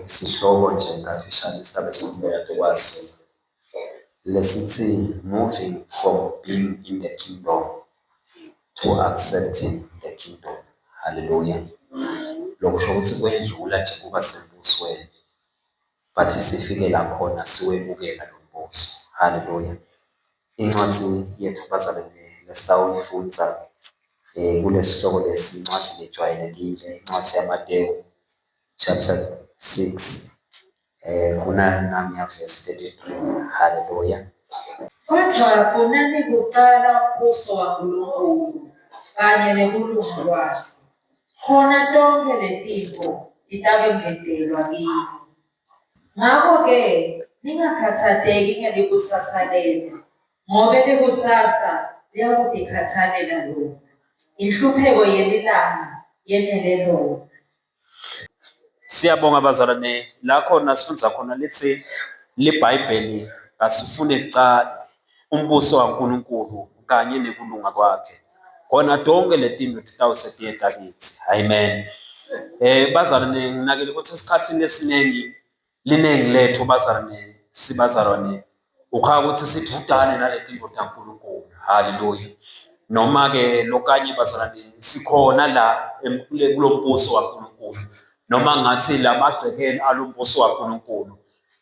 Isihloko nje kafishane isigaba esikhulume kade kwaso lesithi moving from being in the kingdom to accepting the kingdom. Haleluya. Lokusho ukuthi kwedlula nje kuba sembusweni but sifikela khona siwemukela lo mbuso. Haleluya. Incwadi yethu bazalwane lesitawuyifundza um kulesihloko lesi incwadi lejwayelekile, incwadi yaMatewu chapter 6 eh khona nami ya verse 33 haleluya kodwa khona nikuqala umbuso waNkulunkulu kanye nekulunga kwakhe khona tonke letinto titakengetelwa kini ngako-ke ningakhathateki ngelikusasa lenu ngobe likusasa liyakutikhathalela lona inhlupheko yelilanga yenele lona Siyabonga bazalwane la khona sifunza khona lithi liBhayibheli asifune kucala umbuso kaNkulunkulu kanye nekulunga kwakhe khona tonke letinto titawusetiyeta kithi amen. Eh bazalwane nginakile ukuthi esikhathini esiningi Liningi lethu bazalwane sibazalwane ukhaya ukuthi sithudane naleti ndoda Nkulunkulu. Haleluya. Noma ke lokanye bazalwane sikhona la kulombuso waNkulunkulu. Noma ngathi lamagcekeni alombuso waNkulunkulu.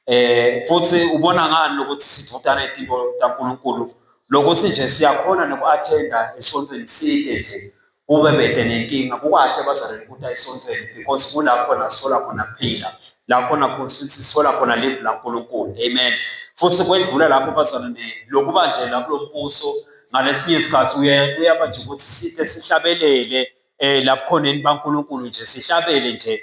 Eh futhi ubona ngani lokuthi sithudane izinto kaNkulunkulu lokuthi nje siyakhona nokuattenda esontweni sike nje kube bede nenkinga kukahle abazalwane ukuthi ayisontweni because kulapho nasithola khona kuphila la khona futhi sithola khona live laNkulunkulu amen futhi kwedlula lapho abazalwane lokuba nje la kulombuso ngalesinye isikhathi uye uyaba nje ukuthi sithe sihlabelele eh lapho khona baNkulunkulu nje sihlabele nje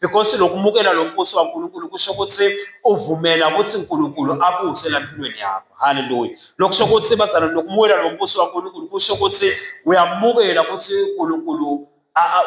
because lokumukela lo mbuso kaNkulunkulu kusho ukuthi uvumela ukuthi uNkulunkulu abuse lampilweni yakho haleluya lokusho ukuthi bazana lokumukela lo mbuso kaNkulunkulu kusho ukuthi uyamukela ukuthi uNkulunkulu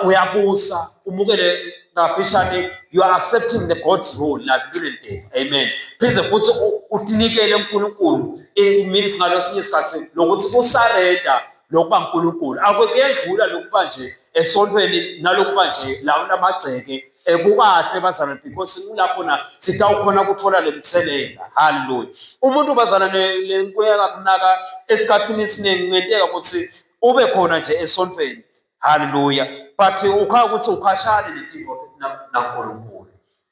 uyabusa umukele ngafishane you are accepting the god's rule lampilweni tethu amen pheze futhi usinikele uNkulunkulu it means ngalesinye isikhathi lokuthi usarenda lokuba uNkulunkulu akwekuyedlula lokuba nje esontweni nalokuba nje lawo lamagceke kukahle bazalwane because kulapho na sitawukhona kuthola le mthelela haleluya umuntu bazana le nkuya kakunaka esikhathini esiningi kungenteka ukuthi ube khona nje esontweni haleluya but ukhala ukuthi ukhashane netimbo nankulunkulu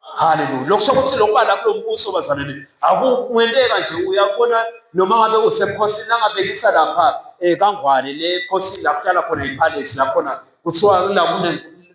Haleluya. Lokusho ukuthi lokuba la kulo mbuso bazalwane akukwenteka nje uyabona noma ngabe usebukhosini nangabekisa lapha eh kangwane le khosini la kuhlala khona ipalace la khona kuthiwa la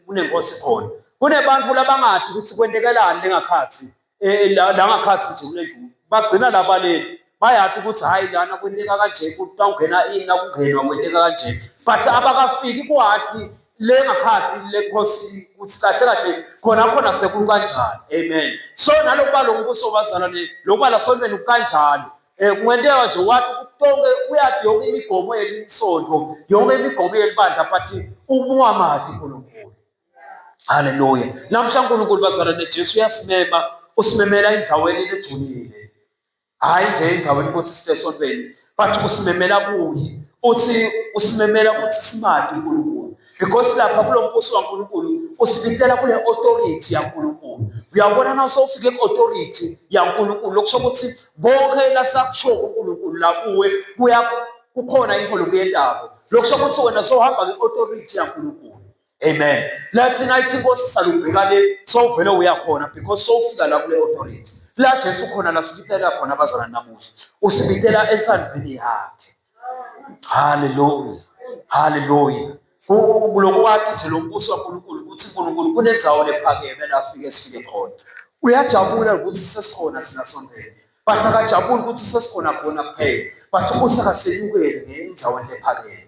kunenkosi khona. Kunebantu labangadi ukuthi kwentekelani lengakhathi eh la ngakhathi nje kule ndlu. Bagcina labaleni bayati ukuthi hayi lana kwenteka kanje kutawungena ini nakungenwa kwenteka kanje but abakafiki kwati le ngakhathi le khosini ukuthi kahle kahle khona khona sekulu kanjani amen so nalokuba lo mbuso wabazalwane lokuba lasontweni kukanjalo um kungenteka nje wathi konke uyathi yonke imigomo yelisonto yonke imigomo yelibandla but umuwamadi unkulunkulu halleluya namhla unkulunkulu bazalwane jesu uyasimema usimemela endaweni ejulile hhayi nje endaweni ukuthi sibe esontweni but usimemela kuye futhi usimemela ukuthi simade unkulunkulu because lapha kulo mbuso kankulunkulu usibitela kule authority yankulunkulu uyabona na sowufike ku-authority yankulunkulu lokusho ukuthi konke lasakusho unkulunkulu la kuwe kukhona into lokuyendako lokusho ukuthi wena sowuhamba nge-authority yankulunkulu Amen. La thina ithi inkosi salubheka le sowuvele uyakhona because sowufika la kule authority. La Jesu khona la sibitela khona abazana namuhla. Usibitela entsandweni yakhe. Hallelujah. Hallelujah. Kuloko wathi nje lo mbuso kaNkulunkulu ukuthi uNkulunkulu kunenzawo lephakeme la afike sifike khona. Uyajabula ukuthi sesikhona sina sondele. But akajabuli ukuthi sesikhona khona kuphela. But ubusa kasenyukele ngenzaweni lephakeme.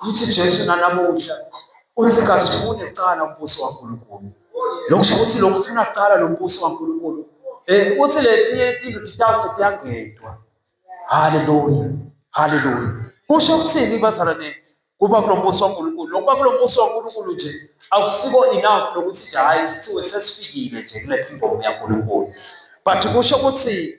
Futhi Jesu nanamuhla uthi kasifune kuqala umbuso waNkulunkulu. Lokusho ukuthi lokufuna kuqala lo mbuso waNkulunkulu eh uthi le tiye tinto titawuse tiyangedwa. Haleluya. Haleluya. Kusho ukuthini bazalwane kuba kulo mbuso waNkulunkulu? Lokuba kulo mbuso waNkulunkulu nje akusiko enough lokuthi nje hayi sithiwe sesifikile nje kule kingdom yaNkulunkulu. But kusho ukuthi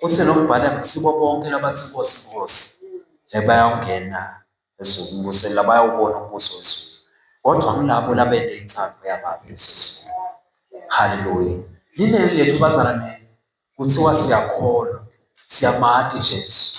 Kuthe nokubhala akusibo bonke labathi Nkosi, Nkosi, bayawungena ezulwini la bayawubona umbuso wezulu, kodwa ngilabo labende intsango yababi esezulwini. Haleluya! Liningi lethu bazalwane, kuthiwa siyakholwa, siyamati Jesu,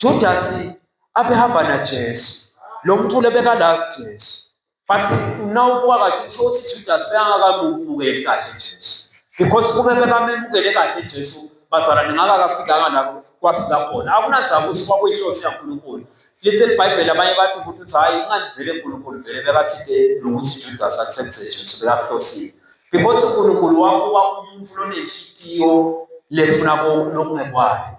Judasi abehamba naJesu, lo mculi obekala kuJesu. But uma ubuka kahle usho ukuthi Judasi bekangakamukeli kahle Jesu. Because kube bekamemukele kahle Jesu bazalwane ngaka kafikanga la kwafika khona. Akunanzaba ukuthi kwakuyinhloso yaNkulunkulu. Lithi iBhayibheli abanye abantu ukuthi uthi hayi ingani vele uNkulunkulu vele bekathinte nokuthi Judasi athembise Jesu bekahlosile. Because uNkulunkulu wakuba umuntu lonenhliziyo lefuna lokungekwayo.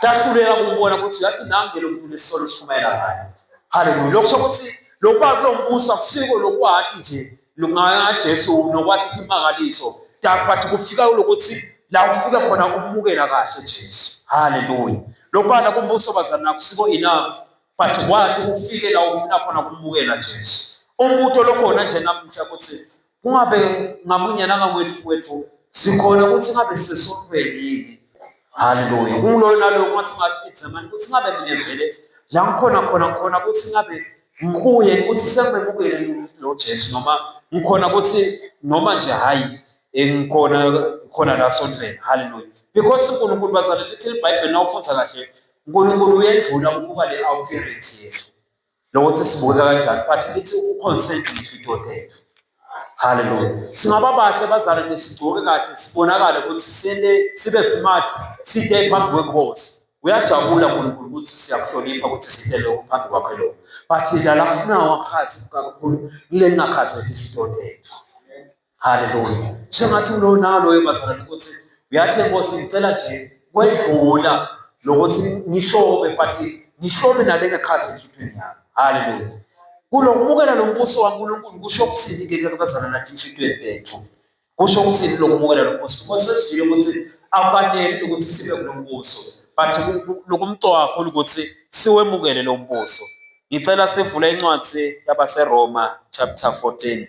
Sahluleka ukubona ukuthi ngathi nange lo muntu unesisolo esishumayela ngayo. Haleluya. Lokho sokuthi lokuba kulo mbuso akusiko lokwathi nje lungaJesu nokwathi imangaliso. But kufika lokuthi la ufika khona ukumukela kahle Jesu. Haleluya. Lokuba la kumbuso bazana nakusiko enough but wathi ufike la ufuna khona ukumukela Jesu. Umbutho lokhona nje namuhla ukuthi kungabe ngamunye nangakwethu kwethu sikhona ukuthi ngabe sisesontweni yini haleluya kuloyo naloyo uma singaexamani ukuthi ngabe mina vele la ngikhona khona khona ukuthi ngabe ngikuye ukuthi sengimemukele lo jesu noma ngikhona ukuthi noma nje hhayi engikhona khona la sondleni haleluya because unkulunkulu bazalele lithi libhayibheli na ufundza kahle unkulunkulu uyedlula ukuba le-appearance yethu lokuthi sibukeka kanjani but lithi uconsense ngifitothethe haleluya singaba bahle bazale nesigcoke kahle sibonakale ukuthi sele sibe smart side phambi kwenkosi uyajabula uNkulunkulu ukuthi siyakuhlonipha ukuthi side lokho phambi kwakhe lokho but lala kufuna wakhathi kakhulu kule ngakhathi ngifitothethe Haleluya. Sengathi unonalo webazalwane ukuthi uyathi Nkosi ngicela nje kwedlula lokuthi ngishobe but ngishobe nale ngakhathi enhlipheni yami. Haleluya. Kulokubukela lo mbuso waNkulunkulu kusho ukuthini ke ke bazalwane nathi enhlitweni tethu? Kusho ukuthini lokubukela lo mbuso? Ngoba sesijile ukuthi akufanele ukuthi sibe kulo mbuso but lokumqoka kakhulu ukuthi siwemukele lo mbuso. Ngicela sivule incwadi yabaseRoma chapter 14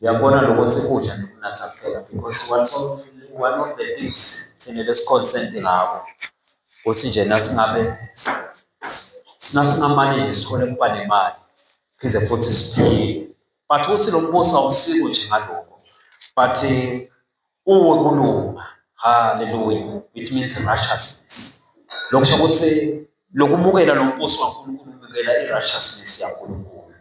Uyabona lokho ukuthi kudla nokunatha kuphela because one of, one of the things thina lesiconcerned ngabo ukuthi nje nasingabe sinasingamane nje sithole kuba nemali phinde futhi siphile but ukuthi lo mbuso awusiko nje ngaloko but Uwe kulunga. Hallelujah. It means righteousness. Lokho kusho ukuthi lokumukela lo mbuso kaNkulunkulu umukela i-righteousness yaNkulunkulu.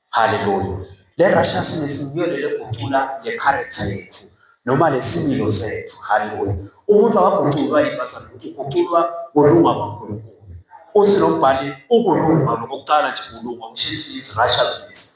Hallelujah. Le righteousness yiyo le leguqula le character yethu noma lesimilo sethu. Hallelujah. Umuntu akaguqulwa yibazana ukuthi uguqulwa kulunga kwaNkulunkulu. Uthi lo mbhali ukulunga lokuqala nje kulunga, which is righteousness.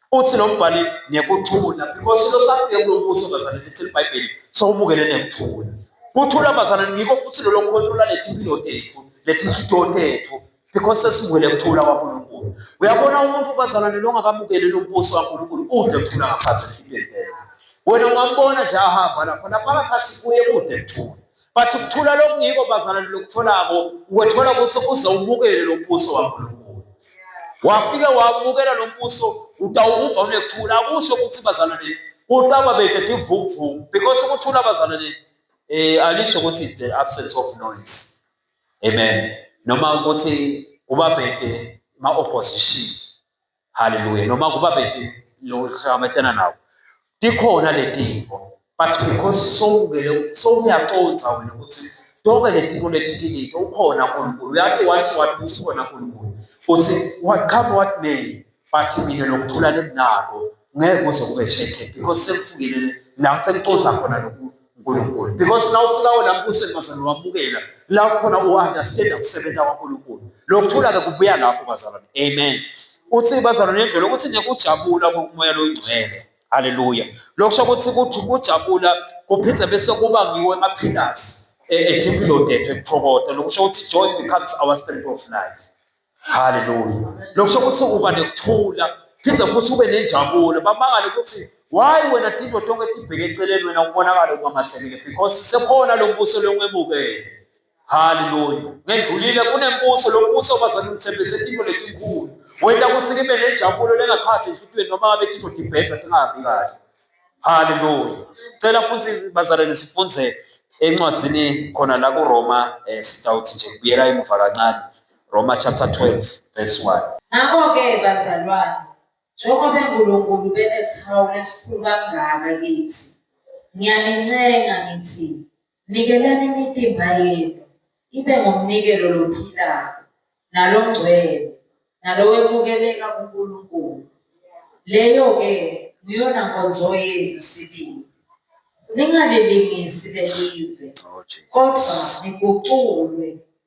uthi lo mbhali nekuthula because into safike kulo mbuso bazalwane lithi libhayibheli so ubukele nekuthula kuthula bazalwane ngikho futhi lolo nkothula letimpilo tethu letinhliyo tethu because sesibuyele kuthula kwaNkulunkulu. Uyabona umuntu bazalwane longakamukeli lombuso kaNkulunkulu ude kuthula ngaphansi ehlukile. Wena ungambona nje ahamba lapho naphakathi kuye kude kuthula. but ukuthula lokungiko bazalwane lokutholako ukwethola ukuthi uze ubukele lo mbuso waNkulunkulu wafike wabukela lo mbuso utawukuva unekuthula akusho ukuthi bazalwane kutaba bethu tivumvumu because ukuthula bazalwane eh alisho ukuthi the absence of noise amen noma ukuthi kuba bhede ma-opposition Hallelujah. Noma kuba beti lo hlangabetana nawo. Tikhona letinto. But because sowuvele sowuyaconsa wena ukuthi zonke lezinto letithinito ukhona uNkulunkulu. Uyati wathi wathi ukhona uNkulunkulu. Futhi what come what may but mina nokuthula lenginako ngeke kuze kube shekhe because sekufikile la sengiconsa khona lokhu uNkulunkulu because na ufika lapho usemazalwane wamukela la khona u-understanda kusebenza kwaNkulunkulu lokuthula-ke kubuya lapho bazalwane amen uthi bazalwane nendlela ukuthi nekujabula kokumoya longcwele haleluya lokusho ukuthi kuthi kujabula kuphinde bese kuba ngiwo emaphilasi e-dipilodethu ekuthokoda lokusho ukuthi joy becomes our spirit of life haleluya lokusho ukuthi uba nekuthula phinde futhi ube nenjabulo bamangale ukuthi why wena tinto tonke tibheke eceleni wena ubonakala ukamathekile because sekhona lo mbuso longemukele haleluya ngedlulile kunembuso lo mbuso bazana umthembise tinto letinkulu wenta ukuthi kibe nenjabulo lengakhathi enhlitiyweni noma ngabe tinto tibhedza tingahambi kahle haleluya cela futhi bazalwane sifunze encwadzini khona la kuroma um eh, sitawuthi nje kubuyela emuva kancane Roma chapter 12 verse 1. Ngakho-ke bazalwane, njengoba uNkulunkulu benesihawu esikhulu kangaka kithi, ngiyanincenga ngithi, nikelani imitimba yenu ibe ngomnikelo lophilayo, nalongcwele, nalowemukeleka kuNkulunkulu. Leyo-ke nguyona nkonzo yenu sibili. Ningalilingisi lelive, oh, kodwa niguculwe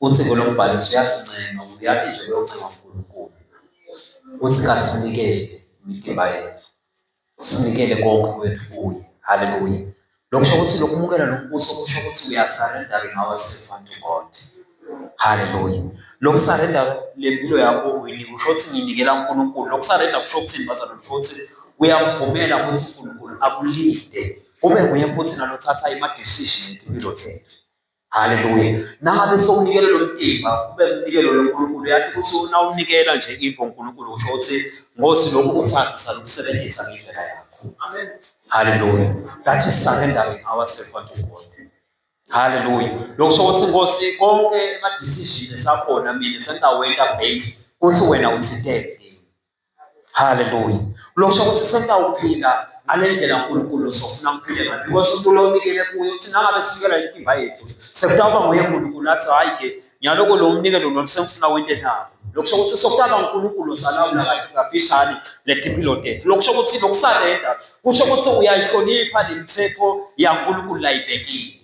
Uthiko lombhaliso uyasincenga ukuba uyaphi nje loyo ncenga uNkulunkulu uthi kasinikele imidimba yethu sinikele konke kwethu kuye haleluya lokhu kusho ukuthi lokumukela lo mbuso kusho ukuthi uyasarenda ngawe sefantu konke haleluya lokusarenda le mpilo yakho uyini kusho ukuthi nginikela uNkulunkulu lokusarenda kusho ukuthi bazana kusho ukuthi uyamvumela ukuthi uNkulunkulu akulinde kube nguye futhi nalothatha ima-decision empilo yethu Haleluya. Nangabe sowunikele lo mtimba kube umnikelo loNkulunkulu, yathi ukuthi unawunikela nje imvo uNkulunkulu usho ukuthi ngosi lokhu uthathe salukusebenzisa ngendlela yakho. Amen. Haleluya. That is surrendering ourselves unto God. Haleluya. Lokho usho ukuthi ngosi konke ama decision esakhona mina senginawenda based kuthi wena uthinteke. Haleluya. Lokusho ukuthi sesawuphila ngale ndlela uNkulunkulu sofuna kuphile ngayo because uNkulunkulu onikele kuye uthi nangabe sinikela intimba yethu sekutawuba nguye uNkulunkulu athi hhayi-ke nyaloko lo mnikelo nolu sengifuna wente nawo lokusho ukuthi sokutaba uNkulunkulu salawula kahle ngafishane letimpilo tethu lokusho ukuthi lokusarenda kusho ukuthi uyayihlonipha nemithetho yaNkulunkulu layibekile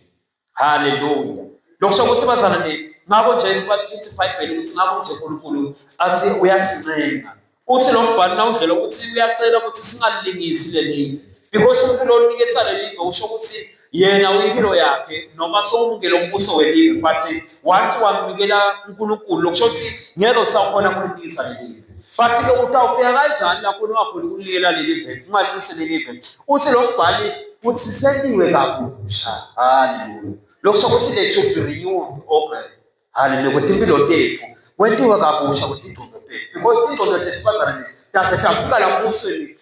haleluya lokhu sho ukuthi bazalwane ngakho nje lithi ibhayibheli ukuthi ngakho nje unkulunkulu athi uyasincenga uthi lo mbhalo nawudlela ukuthi uyacela ukuthi singalilingisi leli because unkulunkulu onike salelive usho ukuthi yena uyimpilo yakhe noma sowumukele umbuso welive but wathi wamnikela uNkulunkulu lokusho ukuthi ngeke usakhona kulibisa leli bathi ke utawufika kanjani lapho ungakhona ukunikela leli veli ungalise leli veli uthi lo mbhali uthi seliwe kabusha haleluya lokusho ukuthi le should be renewed okay haleluya ukuthi impilo tethu wentiwe kabusha ukuthi ingqondo tethu because ingqondo tethu bazalwane tase tafika lapho usweni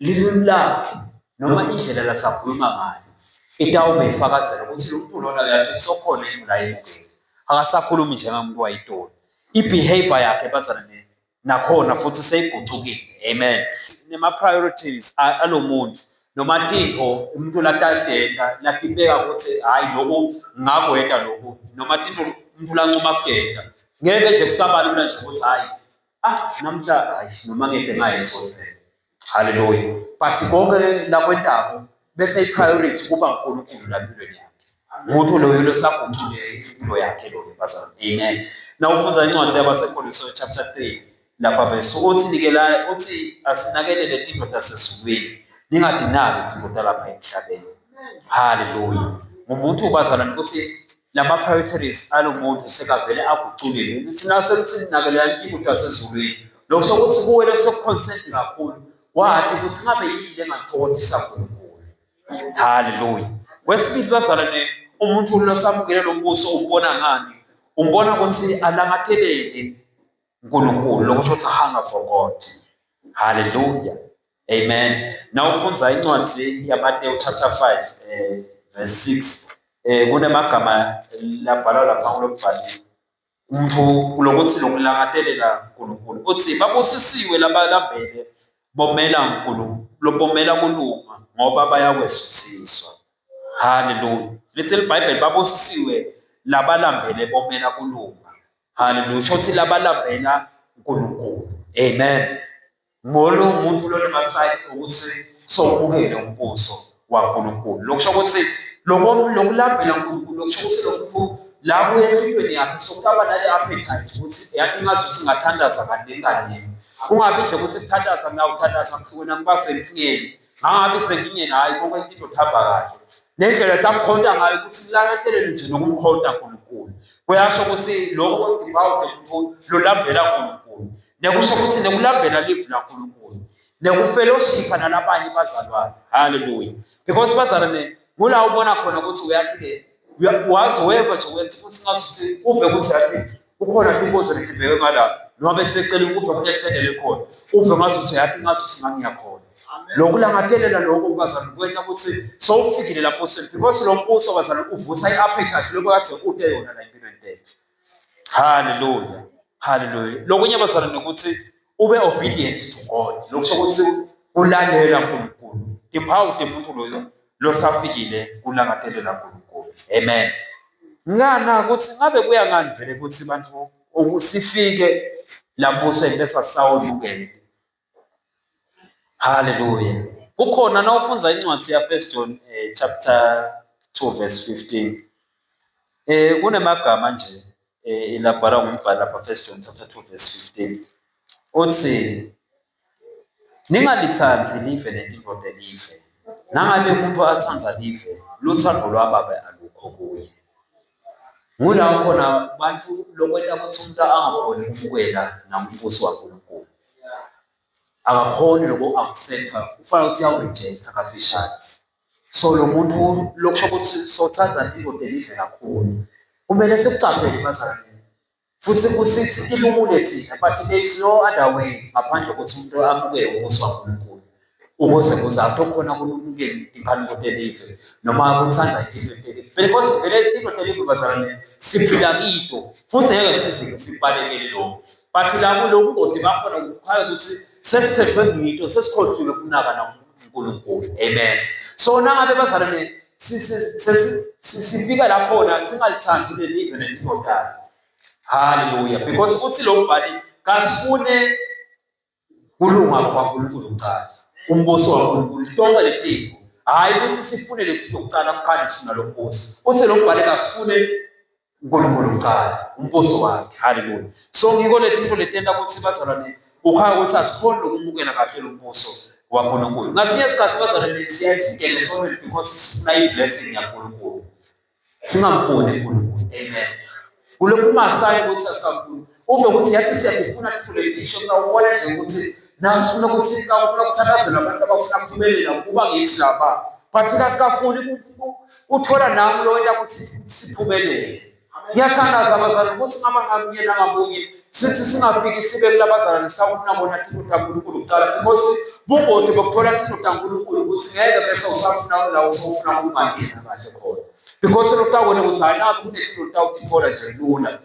lilwimi lakhe noma indlela lasakhuluma ngayo itawube ifakazela ukuthi lo mntu lona yakhe kusokhona yini la yemukeli akasakhulumi njengamuntu wayitoli i-behavior yakhe bazana nakhona futhi seyigucukile amen nema-priorities alo muntu noma tintfo umuntu latadeta latibeka ukuthi hhayi loku ngakwenta loku noma tintfo umuntu lancuma kudeta ngeke nje kusabalula nje ukuthi hhayi Ah, namhla hayi noma ngeke ngayeso vele. Haleluya. But konke la kwentabo bese ipriority kuba uNkulunkulu la empilweni yakhe. Umuntu loyo losaguqule impilo yakhe loyo bazalwane. Amen. Na ufunza incwadi yabaseKolose chapter 3 lapha verse uthi nikela uthi asinakelele tindoda sesizulwini ningadinaki tindoda lapha emhlabeni. Haleluya. Umuntu bazalwane ukuthi lama-priorities alo muntu sekavele aguculile ukuthi nasekuthi linakelela intuthu yasezulwini lokho sokuthi kuwele sekukhonsenti kakhulu wadi ukuthi ngabe yini le ngathokothisa nkulunkulu haleluya kwesibili bazalwane umuntu losamukele lo mbuso umbona ngani umbona ukuthi alangathelele unkulunkulu lokusho ukuthi hunger for god haleluya Amen. Na ufunza incwadi ya Mateo chapter 5 eh, verse 6 eh, kunemagama labhalwa lapha kulobhali umfu kulokuthi lokulangatelela uNkulunkulu uthi babusisiwe labalambele bomela uNkulunkulu lobomela kulunga ngoba bayakwesuthiswa haleluya lithi libhayibheli babusisiwe labalambele bomela kulunga haleluya shothi labalambela uNkulunkulu amen Ngolo muntu lona masayini ukuthi sowubukele umbuso waNkulunkulu. Lokusho ukuthi lokulambela uNkulunkulu lokusho ukuthi lomuntu la kuya empilweni yakhe sokuba nale appetite ukuthi yathi ngazi ukuthi ngathandaza kaningi kaningi. Kungabi nje ukuthi kuthandaza mina uthandaza mhlukweni angiba senkingeni. Ngangabi senkingeni hhayi konke into kuhamba kahle. Nendlela takukhonta ngayo ukuthi kulangatelela nje nokumkhonta uNkulunkulu. Kuyasho ukuthi lokho kudibawude ukuthi lolambela uNkulunkulu. nekusho ukuthi nekulambela livu laNkulunkulu nekufellowshipha nalabanye bazalwane haleluya because bazalwane kula ubona khona ukuthi uyaphile wazi weva nje wenza ukuthi ngazuthi uve ukuthi yathi kukhona tinkonzo letibheke ngala noma betsecela ukuve kunethendele khona uve ngazuthi yathi ngazuthi ngangiyakhona lokhu langatelela lokho ukazana kwenta ukuthi sowufikile lapho sel because lo mbuso bazana uvusa i-appetite lokho kade ude yona la impilo entethe Hallelujah. Hallelujah. Lokunye bazalwane ukuthi ube obedient to God. Lokusho ukuthi ulalela uNkulunkulu. Ngiphawu umuntu loyo losafikile kulangatelela uNkulunkulu. Amen. Ngana ukuthi ngabe kuya ngani vele ukuthi abantu ukusifike lapho sengibesa sawulukele. Haleluya. Kukhona nawufunza incwadi ya First John eh, chapter 2 verse 15. Eh kunemagama nje eh ilabhala ngumbhali lapha First John chapter 2 verse 15. Uthi ningalithandi live nendoda live. Nangabe umuntu athanda live, luthando lwababa alukho kuye. Ngulapho khona abantu lokwenta ukuthi umuntu angakhoni ukumukela nambuso waNkulunkulu. Akakhoni noku-accept-a, kufanele ukuthi uyawu-reject-a kafishane. So lo muntu lokusho ukuthi sothanda indoda elive kakhulu. Kumele sikucaphele bazalwane. Futhi usithi ilumule thina, but there is no other way ngaphandle kokuthi umuntu amukele ubuso kaNkulunkulu ukuze kuze athi okhona kulumukele ingane kotelive noma kuthanda into telive vele cause vele into telive bazalwane siphila kito futhi ngeke sizike sibalekele lokho but la kuloku koti bakhona kukhaya ukuthi sesithethwe ngito sesikhohliwe kunaka namuntu uNkulunkulu amen so nangabe bazalwane sifika lakhona singalithandi leli ivele lizodala haleluya because uthi lo mbhali kasifune kulunga kwaNkulunkulu kuqala umbuso waNkulunkulu tonke letiko hhayi ukuthi sifune letiko kuqala mkhandi sina lo mbuso uthi lo mbhali kasifune uNkulunkulu uqala umbuso wakhe haleluya so ngiko letinto letenta kutsi bazalwane ukhaya ukuthi asikhoni lokumukela kahle lo mbuso waNkulunkulu ngasinye isikhathi bazalwane siyaye singene sonke because sifuna i-blessing yaNkulunkulu singamfuni uNkulunkulu amen kulokumasayi ukuthi asikamfuni uve ukuthi yathi siyakufuna thule isho mina ubona nje ukuthi nasifuna ukuthi kawufuna ukuthandazela abantu abafuna kuphumelela kuba ngithi laba but kasikafuni uthola nami lo wenta ukuthi siphumelele siyathandaza abazalwane ukuthi ngaba ngamunye nangamunye sithi singafiki sibe kulabazalwane sikafuna bona thina udankulunkulu kuqala because bungoti bokuthola thina udankulunkulu ukuthi ngeke bese usafuna la usofuna ukungangena kahle khona because lutawona ukuthi hayi nakho kunethina lutawutithola nje lula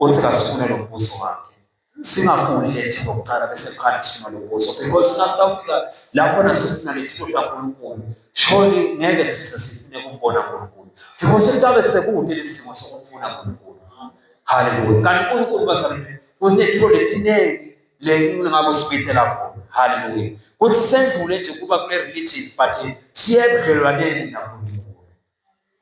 Uthi kasifune lo mbuzo wakhe. Singafuni lethe ngokuqala bese kukhani sifuna lo mbuzo because nasitawufika lapho nasifuna letho kaNkulunkulu shoni ngeke size sifune kumbona uNkulunkulu because kutabe sekude lesimo sokufuna uNkulunkulu. Hallelujah. Kanti uNkulunkulu bazalwane kunetho letiningi lengingabo sibithe lapho haleluya kuthi sendlule nje kuba kule religion but siye ebudlelwaneni naNkulunkulu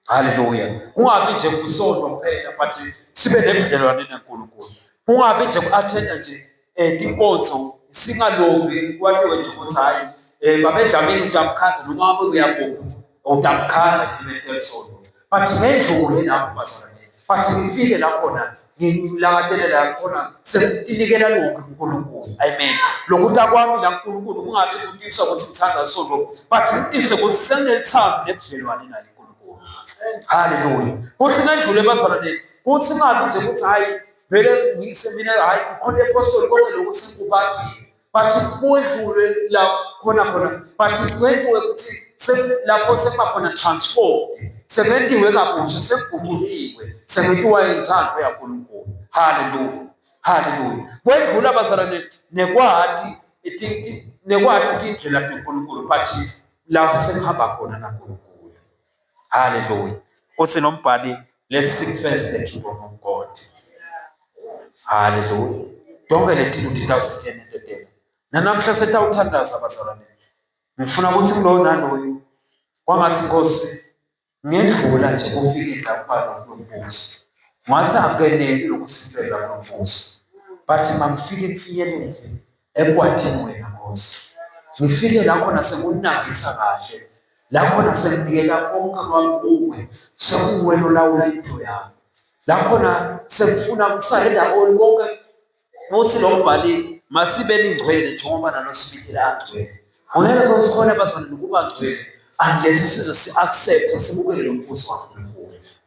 Haleluya. Kungabi nje kusonto kuphela but sibe nebudlelwane neNkulunkulu. Kungabi nje ku-athenda nje um tinkonzo singalovi kwatiwe nje ukuthi hhayi um eh, babedlamile utamkhaza noma abe uyakuphi utamkhaza ngimele sonto but ngendlule lapho bazalwane but ngifike lakhona ngilangatelela yakhona sekunikela lokhu uNkulunkulu amen lokuta kwami la uNkulunkulu kungabi kutisa ukuthi ngithanda isonto but kutise ukuthi senginelithando nebudlelwane naye uNkulunkulu haleluya kuthi ngendlule bazalwane kuthi ngabi nje ukuthi hayi vele ngise mina hayi ukhona epostoli konke lokhu singubani bathi kwedlule la khona khona bathi kwenziwe ukuthi lapho sekuba khona transform sebentiwe kabusha sekuguquliwe sebentiwa intsandvo yaNkulunkulu haleluya haleluya kwedlula bazalwane nekwati nekwati tindlela tenkulunkulu but lapho sekuhamba khona nankulunkulu Haleluya. Uthi nombhali let's seek first the kingdom of God. Haleluya. Donke lethini ukuthi tawusithena into dela. Nanamhla setawuthandaza abazalwane. Ngifuna ukuthi kulowo naloyo kwangathi Nkosi ngedlula nje kufike la kuba nombuzo. Ngathi akeneli lokusifela nombuzo. But mangifike kufinyelele ekwathini wena Nkosi. Ngifike la khona sekunginakisa kahle, la khona senginikela konke kwami kuwe, sekuwena olawula impilo yami. La khona sengifuna ukusarenda koni konke futhi lo mbhali masibe ningcwele njengoba nalo sibikile angcwele. Ngeke kosikhona bazana nokuba ngcwele unless size si-accept simukele lo mbuso waNkulunkulu.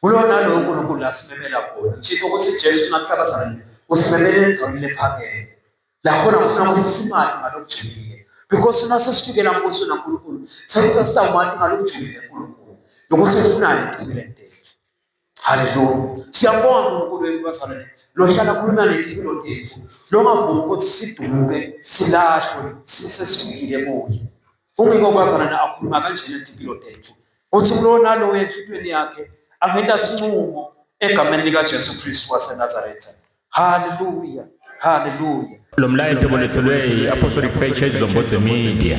kulona lowo nkulunkulu lasimemela khona ngisho ukuthi jesu nakuhlabazana usimemele endaweni lephakeme lakhona ngifuna ukuthi simade ngalokujulile because uma sesifikela mbuso nankulunkulu sekuthi sitawumade ngalokujulile nkulunkulu nokuthi ufunani empilweni yethu haleluya siyabonga nkulunkulu wethu bazalwane lohlala khuluma nempilo yethu longavumi ukuthi sidumuke silahlwe sisesifikile kuye Ungeke ukwazana na akhuluma kanjena impilo tethu. Uthi kulowo nalowo enhlitweni yakhe angenta sinqumo egameni likaJesu Kristu waseNazaretha. Haleluya. Haleluya. Lo mlayeto bolethelwe i-Apostolic Faith Church Zombodze Media.